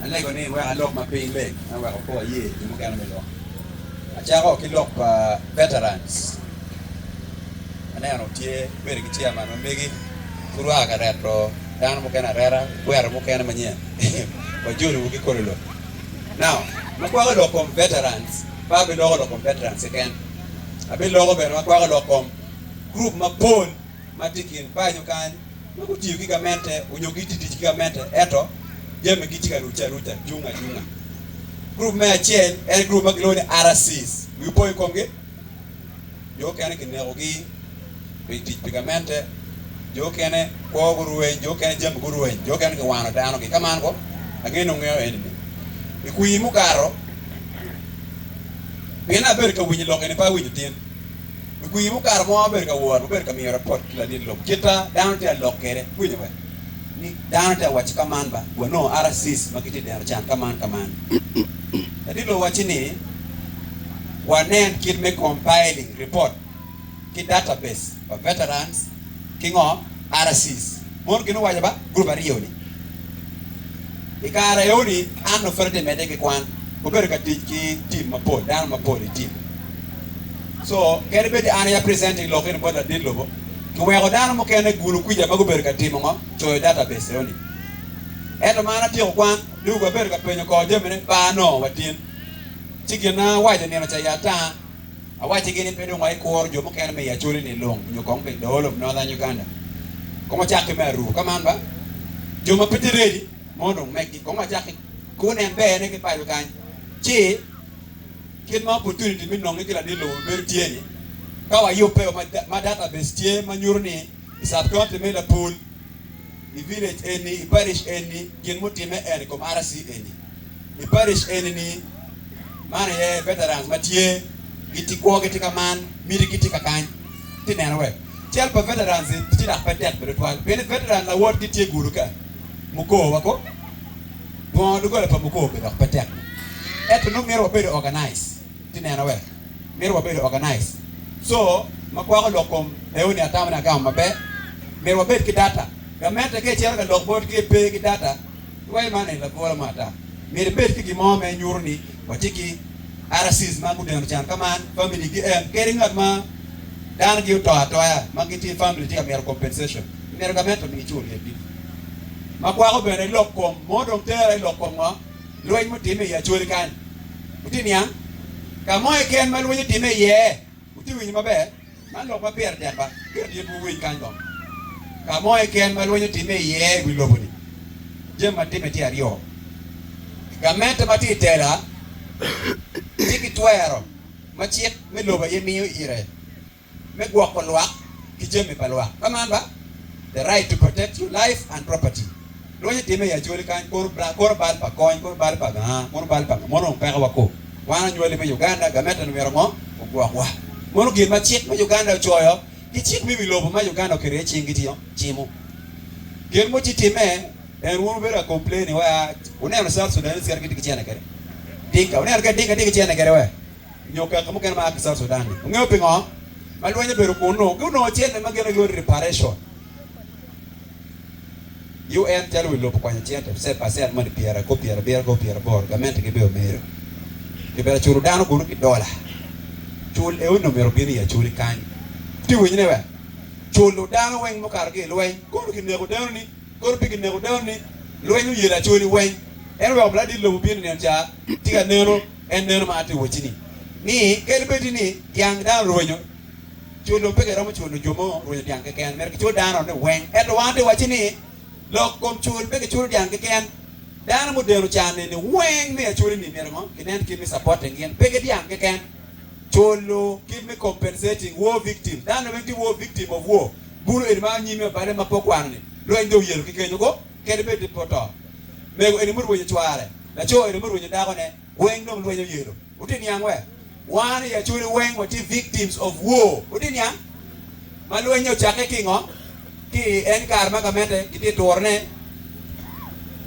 Alego ni wek alok ma piny leng ma weko kor aye jo mukene me lok. Acako ki lok pa Veterans, aneno tye bedo ki chairman ma megi pud waa ka reto dano mukene areta, gukwero mukene manyen wajolo wa ki kolo lok. Now ma kwako lok kom Veterans pe abiloko lok kom Veterans keken, abiloko bene ma kwako lok kom group mapol. ma tye i kin paco kany ma gutiyo ki gamente onyo gitye tic ki gamente eto jamigi tye ka rucce aruca cung acunga. Gurup me acel en gurup ma gilwongo ni RCs, wiu po i komgi? Jo okene kinekogi pi tic pi gamente, jo okene kwo gurweny, jo okene jami gurweny, jo okene giwano danogi. Ka man ko, ange ni wungeyo eni-ni. I kwir mukato, pien abedo ka winyo lok eni pe awinyo tin. Lukwir mo kare mo abedo ka wot, wabedo ka miyo rapot ki lalit lok citta dano tye ka lok kwede kwinyo wek ni dano tye ka wacci ka man ba, wanongo RCs ma gitye i dero can ka man ka man. Lalit lok wacci ni wanen kit me compiling report ki database pa veterans, ki ngo? Arasis. Mono gin owaco ba gurup aryo ni, I kare aye ni Anna pud atye medde ki kwan, obedo ka tic ki team mapol, dano mapol i team. So kadi bed an aye a presenting lok eni bot ladit lobo, kiweko dano mukene gulu kwica ma gubedo ka timo ngo? Coyo database eo ni. Ento ma an atyeko kwan, dong abedo ka penyo kor jamine, ba nongo watyen. Ci gin awaco nino ca i ata, Awaccigi ni pe dong aye kuro jo mukene me i Acholi ni Lung nyo kong me i Dhool of Northern Uganda kong wacak ki me Aruu. Ka man ba, jo ma pe tye ready mono dong mekgi kong wacak ki gunen berne ki paco kany. Ci, kit ma opportunity me nonge ki ladit lobo bedo tye ni, ka wayubbe o ma database tye ma nyuto ni i sub-county me Lapul, i village eni, i parish eni, gin mutimme en i kom RC eni, i parish eni ni, man aye veterans ma tye giti kwo giti ka man, miti giti ka kany ti neno wek cal pa veterans i ti dok pe tek bene twal pien ni veteran lawot gi tye gudo ka mukoo wako dwongo doggola pa mukoo be dok pe tek ne eto nongo mito wabedo organize. Ati neno wek mito wabedo organized so ma kwako lok kom reuni atamo ni agamo maber. Myero wabed ki data. Gamente ka icito ka lok bot ki pe ki data iwaco man en lagola mo ata. Myero ibed ki gin mo ma inyuto ni watye ki RCs ma gudeno can ka man, family gi en kadi ngat ma dano gi oto atoya ma gitye i family tye ka mito compensation myero gamente omigi cul yet gi. Ma kwako bene lok kom mo dong tera ilok kom ngo? lweny mutimme i Acori kany. Wutye niang? Ka mo keken ma lweny otimme iye, wutye winyo maber? Man lok ma pire tek ba pire dit wuwiny kany dong. Ka mo keken ma lweny otimme iye i wi lobo-ni, jami ma timme tye aryo, Gamente ma tye i tela tye ki twero ma cik me lobo aye miyo ire. me gwoko lwak ki jami pa lwak, ka man ba, the right to protect your life and property. Lwonyo timme i Acholi kany, kor bal, kor bal pa kony, kor bal pa gaa, mono bal pa nga, mono dong peke wa koo. Wan onywali me Uganda, gametta ni myero ngo? Ogwok wa. Mono gin ma cik me Uganda ocoyo, ki cik me wi lobo ma Uganda oketo iye cing gitio, cimo. Gen mo ci timme, en wun wubedo ka complaini wa, wuneno South Sudanese kadi gitye ki cene kede? Dinka, wuneno kede Dinka tye ki cene kede we? nyo kaka mukene ma a ki South Sudan-ni. Wungeyo pingo ma lweny obedo kunnu? Gunongo cente ma gine giyuto i reparation. UN calo wi lobo okwanyo cente cent pa cent moni pyera kop pyera abiro kop pyera aboro. Gamente gibe omedo. Kibera culo dano kunnu ki dola. Cul eoni omyero obin i aculi kany. Ti winyo ne wek culo dano weng mukato ki i lweny. Kono kineko dano-ni, kono pe kineko dano-ni. Lweny oyelo aculi weng. Ento wek obladit lobo obin i nino ca, ti ka neno. En meno ma atye wacci-ni, ni kadi bed ni dyang dano rwenyo, culo pe giromo culo jo mo rwenyo dyang keken, myero gicul dano-ni weng. Ento wan atye wacci ni, lok kom cul pe giculo dyang keken, dano mudeno can-ni-ni weng me aculi-ni myero ngo? ginen kit me supporting gin, pe ki dyang keken, culo kit me compensating war victim, dano-ni weng tye war victim of war, bulu eni ma anyimi ma bale ma pe okwano-ni, rweny dong yelo ki kenyo go. kadi bed ni pe oto. Mego eni murwenyo cware, laco eni murwenyo dakone, weng dong lweny oyelo. Wutye niang we? Wan i Acholi weng watye victims of war. Wutye niang? Ma lweny-nyo ocakke ki ingo? Ki i en kare ma gamente gitye turo ne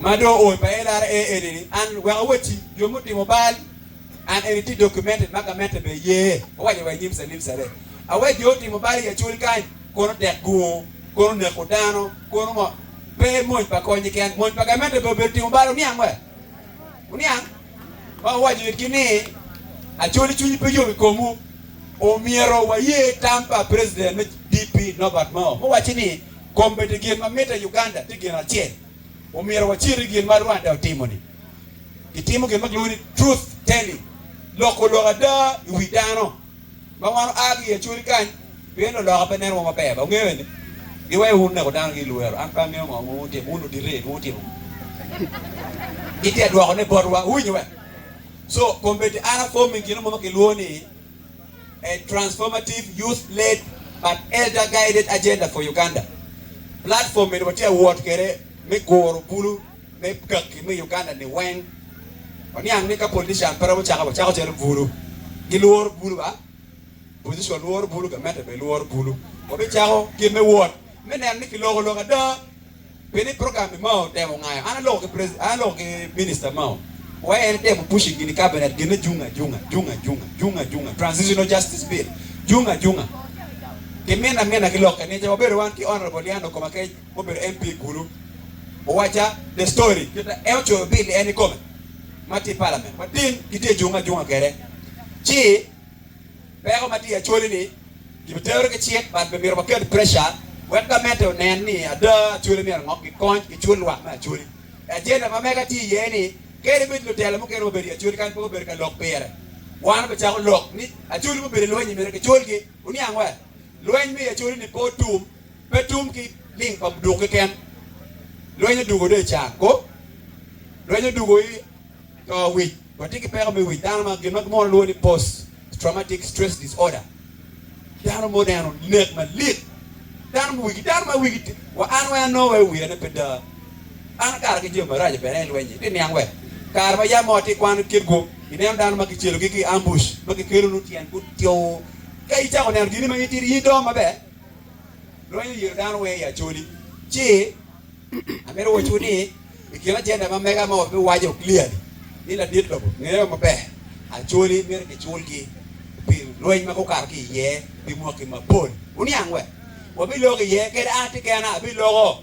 ma dong ooi pa LRA eni ni, an wek awoti jo mutimo bal. An eni tye documented ma gamente bene ye, owaco wa i nyim Salim Saleh. Awer jo otimo bal i Acol kany, kono tek gungo, kono neko dano, kono ngo. Pe mony pa kony keken, mony pa gamente bene obedo timo bal, wuniang wa? Wuniang? Ma owaco itgi ni, Acholi cwinyi pe yom i komwu, omyero waye tam pa President me DP Norbert Mao, muwacci ni, Kombeddi gin ma mitte i Uganda tye gin acel, omyero waciti gin ma Rwanda otimo-ni. Gitimo gin ma kilwongo ni truth telling, loko lok ada i wi dano ma wan oa ki i Acoli kany, pien loloka pe nenowa maber. Ba wungeyo ni giweyo wun neko dano ki lwero, an pe angeyo ngo ma wutimo, wun odite ni wutimo ngo. Gitye ka dwoko ne botwa, wuwinyo be? So, kombeddi an aforming gin mo ma kilwongo ni A Transformative Youth-Led but Elder-Guided Agenda for Uganda. Platform eni watye ka wot kwede me guro bulu. me gaggi me Uganda-ni weng, waniang ni ka politician pe romo cako, wacako calo bulu. Gilworo bulu ba? Opposition lworo bulu, gamente bene lworo bulu. Wabicako kit me wot me neno ni kiloko lok ada. Pi ni program-mi Mao otemo ngayo, an aloko ki President, an aloko ki Minister Mao. Wai en etemo pushing gin i Cabinet gine jung ajunga, jung ajunga, jung ajunga, Transitional Justice Bill, jung ajunga. Ki mina mina ki lokke nice, wabedo wan ki Honourable Yan Okomakech, obedo MP i kulu, Owacha The Story. Kita en ocoyo bil ni en ikome ma tye i palament ma tin kitye ka jungo ajunga kwede ci peko ma tye i Acholi-ni gibitero ki cik but bimito waket presha wek gamente onen ni ada Acholi myero ongok gikony gicul lwak me Acholi. Agenda ma mega tye iye ni kadi ibed lutelo mukene ma obedo i Acholi kadi pe gubedo ka lok pire wan obicako lok ni Acholi ma obedo i lweny-nyi myero gicul-gi. Wuniang wa? Lweny me i Acholi-ni pe otum. Pe tum ki ling pa duk keken. Lweny odwogo do i car kop. Lweny odwogo i to wic. Watye ki peko me wic dano ma gin ma gimwono lwongo ni Post Traumatic Stress Disorder. Dano ma oneno nek malit. Dano ma wigi dano ma wigi ti. Wa an weng anongo wai wira ne pe da. An akato ki jami maraco bene i lweny-nyi. Ti niang wek kare ma yam moo ti ikwano kit gu ineno dano ma kicelogi ki ambush ma gikelonu tyen gutyoo. Ka icako neno gini ma in itidi in idongo maber. Lonyo yero dano weng i Acholi ci amito wacciwu ni i kin agenda ma mega ma wabiwaco clearly ni ladit lobo ngeyo maber Acholi myero kiculgi pi lweny ma gukato ki iye pi mwaki mapol. Wuniang wek? Wabiloko iye kadi an kekena abiloko.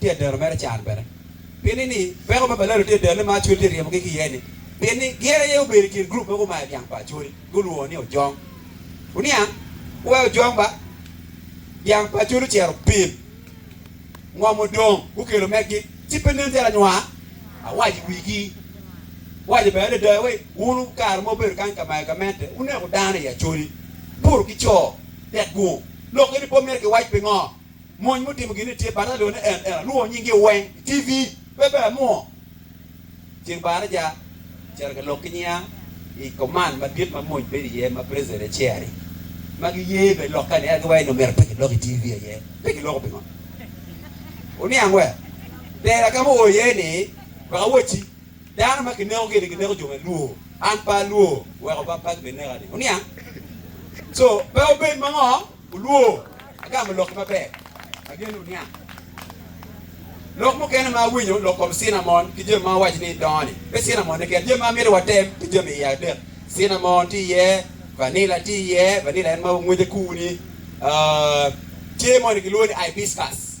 Tye adero mere can bene. Pien ni ni peko ma balalo tye adero ni ma Acholi tye ryemogi ki iye ni, pien ni gin aye obedo i kin gurup ma gumayo dyang pa Acholi, gulwongo ni ojong. Wuniang, wuwe ojong ba. Dyang pa Acholi ocito pim, ngom odong, gukelo meggi, ci pe nen calo anywa. Awaco i wigi, awaco bene adada ni, wun kare mo wubedo kany ka mayo gamente, wuneko dano i Acholi, buto ki co, tek gung, lokke ni pe omyero kiwac pingo? Mony mutimo gin ni tye bata lwongo ni en ena lwongo nying gi weng TV pe ber mo ceng barre ja cito ki lok ki nyinga i command madit ma mony bedo iye ma president e chair i ma gi ye be lok ka ni ena gi wai nomito pe ki lok i TV aye pe ki loko pingo oniang wer tera ka mu o iye ni wek awoci dano ma ki neko gini gi neko jo me luo an pe alwo weko bap pe gi bi neka ni oniang so pe obed mango. Olwo, agamo lok maber ma gin oniang. Lok mukene ma awinyo lok kom cinamon ki jami ma awaco ni dongo ni, pe cinamon-ne keken, jami ma amito watem tye jami iye adek, cinamon tye iye, vanila tye iye, vanila en ma wangwece kuu-ni, tye moni gilwongo ni hibiscus.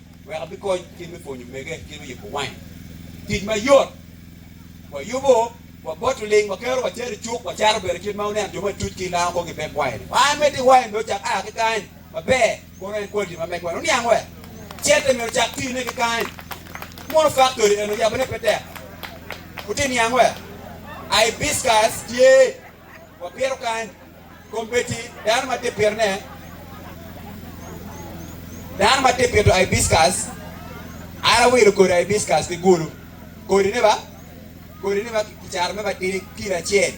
wek abikony kit me pwonyo omege kit me yubo wain. Tic mayot, Wayubo, waboto ling, wakero, wacero i cuk, wacato bene kit ma wuneno jo matuc ki i lam kong gibeb wain-ni. Wa amed ni wain-ni ocak a ki kany maber, kono en kwaliti ma megwa-ni oniang wek cente myero ocak tine ki kany. Mono faktori eno yabone pe tek? Wutye niang wek a i Hibiscus tye, wapito kany, Kombeddi dano ma tye pirene, dano ma tye pito aibiskas, an awilo kodi aibiskas ki gulu. Kodine ba, kodine ba kicato me matidi kilo acel,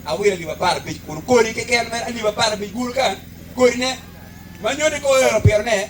awilo alip apar abic kunu. Kodi keken mere alip apar abic gulu ka, kodine, ma nyodi ka oero pirene.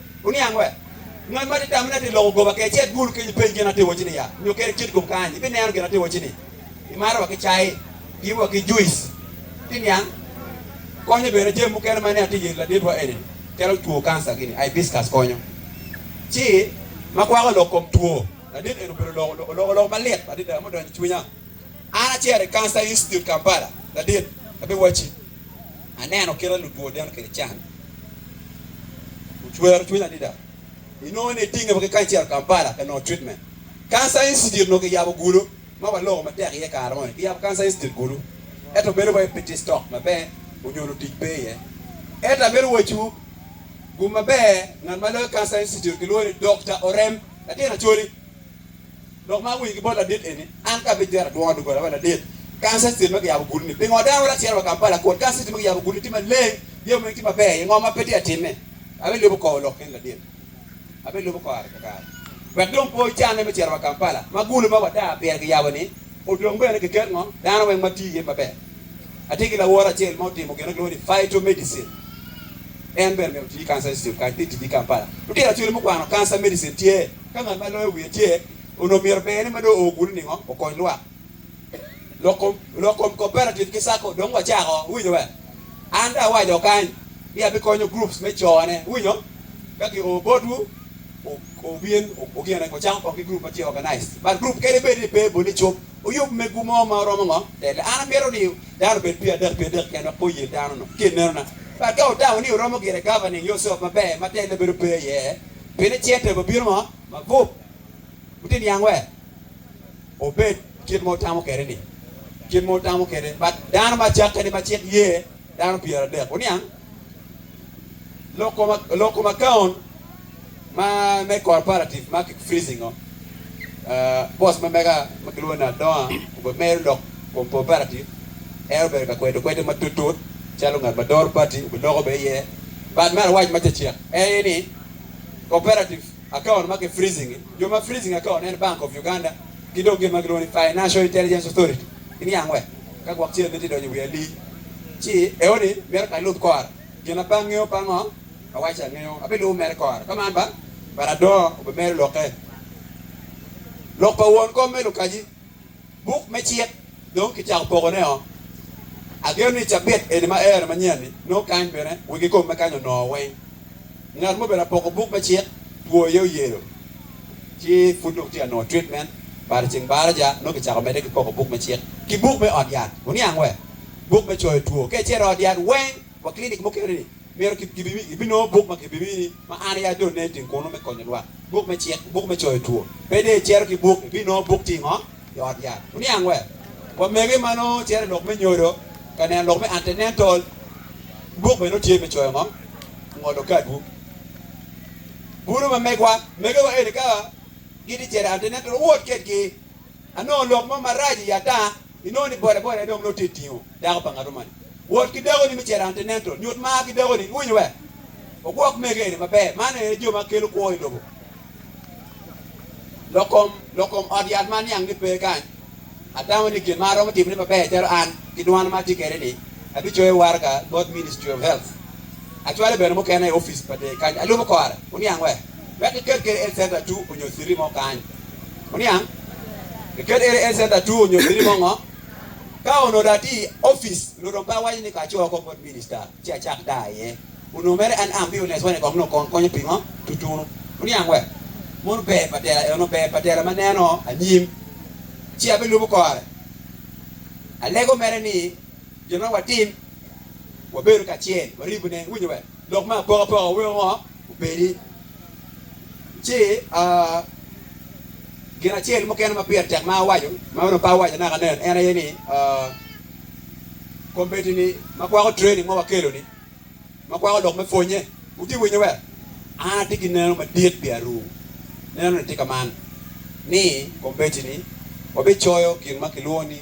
Oniang we? Ngat ma atye tamone atye loko goba kece adwol kenyo penj gin atye wacci ni ya nyo keri cit kom kany ibi neno gin atye wacci ni imaro wa ki cai gin wa ki juice ti niang konyo bene jami mukene ma ni atye yeri ladit wa eni ni calo two cancer gini hibiscus konyo ci ma gwako lok kom two ladit eni obedo oloko lok malit adada mudonyo icwinya an acito i cancer institute Kampala ladit abi wacci. aneno kit ma lutwo deno kede can ocwero cwinya adada. Inongo ni itinge wa ki kany acel Kampala ka nongo treatment. Cancer Institute onongo kiyabo Gulu ma waloko matek iye kare moni. Kiyabo Cancer Institute Gulu ento bedo wai pe tye stock maber onyo lutic pe iye. Ento amito wacciwu gu maber ngat ma loyo Cancer Institute kilwongo ni Dokta Orem latin Acholi Lok ma awinyo ki bot ladit eni, an ka abijero adwongo doggola pa ladit kanisa state ma kiyabo gudo ni pingo dano wacito wa Kampala kun kanisa state ma kiyabo gudo ni tye maleng, jami weng tye maber iye ngo ma pe tye ka timme? Abilubo kor lok kene ladit, abilubo kare ka kare wek dong pe ocanne me cito wa Kampala ma gudo ma wadaa pire kiyabo ni odong bene keket ngo dano weng ma tye iye maber. Atye ki lawote acel ma otimo gin ma kilwongo ni phytomedicine en bene myero oti ki kanisa state kany pe eti ki Kampala, lutino cwalo mukwano kanisa medicine tye. Ka ngat ma loyo wiye tye, onongo myero bene ma dong oo kunu ningo okony lwak. Lok lok kom cooperative ki sacco dong wacako, iwinyo be? An dong awaco kany ni abikonyo groups me cone, iwinyo? Ka ki oo botwu, wubin wugine wucako kong ki group ma tye organized. But group kene bed ni pe bot icup, wuyub megwu mo ma romo ngo tele. An amito ni dano obed pyera adek pyera adek keken wek pe oyel dano-nu, ki ineno-na. But ka wutamo ni wuromo gire governing yourself maber ma tele bedo pe iye, Pien icel tee obibino ma magup, woti niang wer obed kit ma wutamo kede ni, kit ma wutamo kede bat dano ma cakke ni ma cik ye dano pyer adek. Wuniang loko ma loko ma kaon ma me corporative ma ki freezing o Bos ma mega ma gilwongo ni Adonga obedo mere lok kom Cooperative. En obedo ka kwedo kwede matutut calo ngat ma doro pati obedo loko bene iye. But me arawac ma cecek aye ni Cooperative account ma ki freezing i, jo ma freezing account en Bank of Uganda ki dong gin ma gilwongo ni Financial Intelligence Authority. Giniang wek ka gwok cel ni tye donyo i wi alii ci eoni mito ka lub kore gin ma bangi-o pa ngo. Awaco angeyo ape lubo mere kore ka man ba but adongo obe mero loke lok pa won kom me lukaji buk me cik dong ki cako poko ne o ageno ni cabit eni ma ero manyen ni nongo kany bene wegi kom me kany onongo weng ngat mo obedo apoko buk me cik two aye oyelo ci pud dong tye ka nongo treatment but ceng baraja nongo ki cako mede ki poko buk me cik ki buk me ot yat oniang we buk me coyo two kece ro ot yat weng. Wa kilinik mukene-ni, myero ibinongo buk ma kibimiyi ni Ma An Aye Adone Ting Kunu me Konyo Lwak, Buk me Cik, Buk me Coyo Two. Pe dong icito ki buk, ibinongo buk Ti Ngo i Ot Yat? Wuniang Wer? Wamege ma nongo cito i lok me nyodo ka neno lok me antenatal ki buk bene nongo tye me coyo ngo ngolo kadwu. Bulu ma megwa, megewa eni ka gitye cito i antenatal, wuwot kwedgi. Anongo lok mo marac i ata inongo ni bodaboda-ni dong nongo tye tingo dako pa ngat moni. Wot ki dakoni me carante nento nyut mar ki dakoni, iwinyo wek ogwok mege eni maber. Man aye jo ma kelo kwo i lobo. Lokom, lokom ot yat ma aniang ni pe kany, atamo ni gin ma aromo timone maber calo an ki dwana ma atye kede ni, abicoyo waraga bot Ministry of Health, acwale bene mukene i ofice pa dee kany alubo kore, wuniang wek. wek kiket kede en centa two onyo citi mo kany. Oniang? Kiket kede en centa two onyo citi mo ngo? Ka onongo dong atye i opic, onongo dong pe awaco ni ka aco oko bot minista ci acak daa aye. Onongo mere an am biyo necowa ni kong nongo kong konyo pingo tutunu. Oniang we? Mono ber pa tela eno, ber pa tela ma neno anyim, ci abilubo kore. Alego mere ni gin ma watim, wabedo kacel, waribune. Iwinyo we? Lok me apokapoka weko ngo? obedi, ci gin acel mukene ma pire tek ma awaco ma onongo pe awaco naka nen en aye ni kombeddi-ni ma kwako training ma wakelo-ni ma kwako lok me pwonye, wutye ka winyo be? An atye ki neno madit pi aru, nenone tye kaman ni kombeddi-ni wabicoyo gin ma kilwongo ni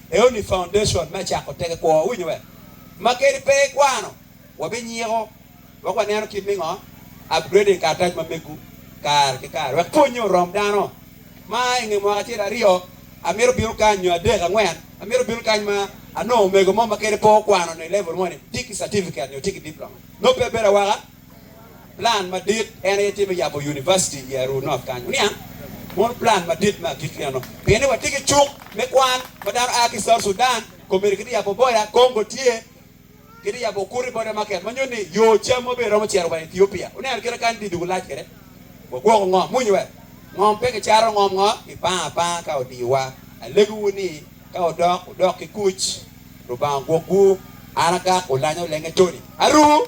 Early Foundation me cako teke kwo. Wuwinyo be? Ma kadi pe ikwano, wabinyiko wek waneno kit me ngo upgrading karatac ma megu kare ki kare wek pwonye orom dano. Ma i nge mwaka acel, aryo, amito bino kany, nyo adek, angwen, amito bino kany ma anongo omego mo ma kadi pe okwano ni level mo ni tye ki certificate nyo tye ki diploma. Nongo pe bedo awaka. Plan madit en aye tye me yabo univaciti i Aruu North kany. Wuniang mono plan madit me agikki eno, pien ni watye ki cuk me kwan ma dano aa ki South Sudan, Komedi ki dye yabo boda, Congo tye ki dye yabo Okuri Border Market ma nyuto ni yo cam wa bene romo cito wa Ethiopia. Wuneno kit ma kany dye dwogo lac kwede. Wagwoko ngom muni wek ngom pe kicato ngom ngo, kipanga apanga ka odiyowa. Alegowu ni ka wudok, wudok ki kuc. Lubanga ogwokwu. An agak, Oulanya Olenge Tony, Aruu.